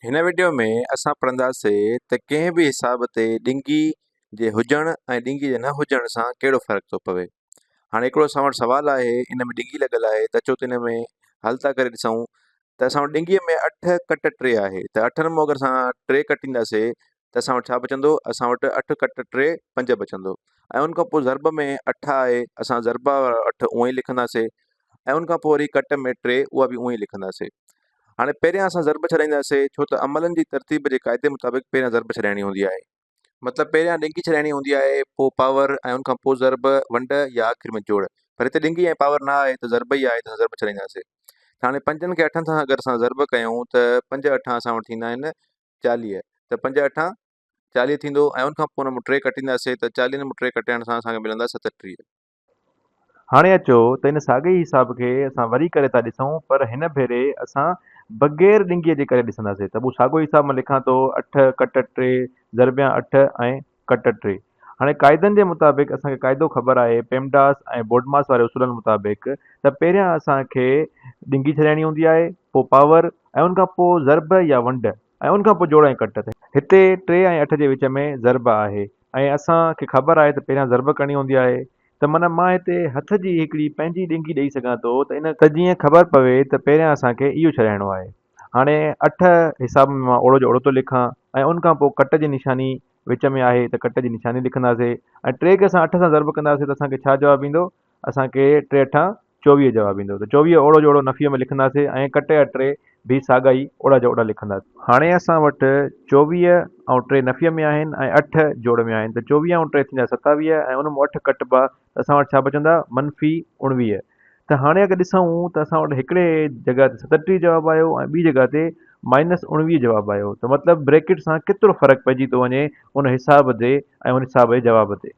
هن وڊيو ۾ اسان پڙهنداسي ته ڪنهن به حساب تي ڏنگي جي هجڻ ۽ ڏنگي جي نه هجڻ سان ڪهڙو فرق ٿو پوي. هاڻي هڪڙو اسان وٽ سوال آهي ان ۾ ڏنگي لڳل آهي ته اچو ته ان ۾ حل ٿا ڪري ڏسون ته اسان وٽ ڏنگي ۾ اٺ ڪٽ ٽي آهي ته اٺن مون اگر اسان ٽي ڪٽينداسي ته اسان وٽ ڇا بچندو اسان وٽ اٺ ڪٽ ٽي پنج بچندو ۽ ان کان پوء ضرب ۾ اٺ آهي اسان ضرب اٺ اونئي لکنداسي ۽ ان کان پوء وري ڪٽ ۾ ٽي اها به اونهي لکنداسين. هاڻي پهريان اسان ضرب ڇڏائينداسين ڇو ته عملن جي ترتيب جي قاعدي مطابق پهريان ضرب ڇڏائڻي هوندي آهي. مطلب پهريان ڏنگي ڇڏائڻي هوندي آهي پوء پاور ۽ ان کان پوء ضرب، ونڊ يا آخر ۾ جوڙ. پر هتي ڏنگي ۽ پاور نه آهي ته ضرب ئي آهي ته اسان ضرب ڇڏائينداسين. ته هاڻي پنجن کي اٺن سان اگر اسان ضرب ڪيون ته پنج اٺان اسان وٽ ٿيندا آهن چاليهه ته پنج اٺان چاليهه ٿيندو ۽ ان کان پوء ان مان ٽي ڪٽينداسين ته چاليهن مان ٽي ڪٽائڻ سان اسان کي ملندا ستٽيهه. هاڻي اچو ته ان ساڳئي ئي حساب کي اسان وري ڪري ٿا ڏسون پر هن ڀيري اسان بغير ڏنگيء جي ڪري ڏسنداسين ته مون ساڳيو حساب مان لکان ٿو اٺ ڪٽ ٽي ضربيان اٺ ۽ ڪٽ ٽي هاڻي قاعدن جي مطابق اسان کي قاعدو خبر آهي پيمڊاس ۽ بوڊماس واري اصولن مطابق ته پهريان اسان کي ڏنگي ڇڏائڻي هوندي آهي پوء پاور ۽ ان کان پوء ضرب يا ونڊ ۽ ان کان پوء جوڙ ۽ ڪٽ تي. هتي ٽي ۽ اٺ جي وچ ۾ ضرب آهي ۽ اسان کي خبر آهي ته پهريان ضرب ڪرڻي هوندي آهي ته من مان هتي هٿ جي هڪڙي پنهنجي ڏنگي ڏئي سگهان ٿو ته ان ته جيئن خبر پوي ته پهريان اسان کي اهو ڇڏائڻو آهي. هاڻي اٺ حساب ۾ مان اوڙو جو اوڙو ٿو لکان ۽ ان کان پوء ڪٽ جي نشاني وچ ۾ آهي ته ڪٽ جي نشاني لکنداسي ۽ ٽي کي اسان اٺ سان ضرب ڪنداسي ته اسان کي ڇا جواب ايندو اسان کي ٽي اٺان چوويهه جواب ايندو ته چوويهه اوڙو جو اوڙو نفيء ۾ لکنداسين ۽ ڪٽي يا ٽي به ساڳا ئي اوڙا جا اوڙا لکنداسين. هاڻي اسان وٽ چوويهه ۽ ٽي نفيء ۾ آهن ۽ اٺ جوڙ ۾ آهن ته چوويهه ۽ ٽي ٿيندا ستاويهه ۽ ان مون اٺ ڪٽبا ته اسان وٽ ڇا بچندا منفي اوڻويهه ته هاڻي اگر ڏسون ته اسان وٽ هڪڙي جڳهه تي ستٽيهه جواب آيو ۽ ٻي جڳهه تي مائنس اوڻويهه جواب آيو ته مطلب بريڪٽ سان ڪيترو فرق پئجي ٿو وڃي ان حساب تي ۽ ان حساب جي جواب تي.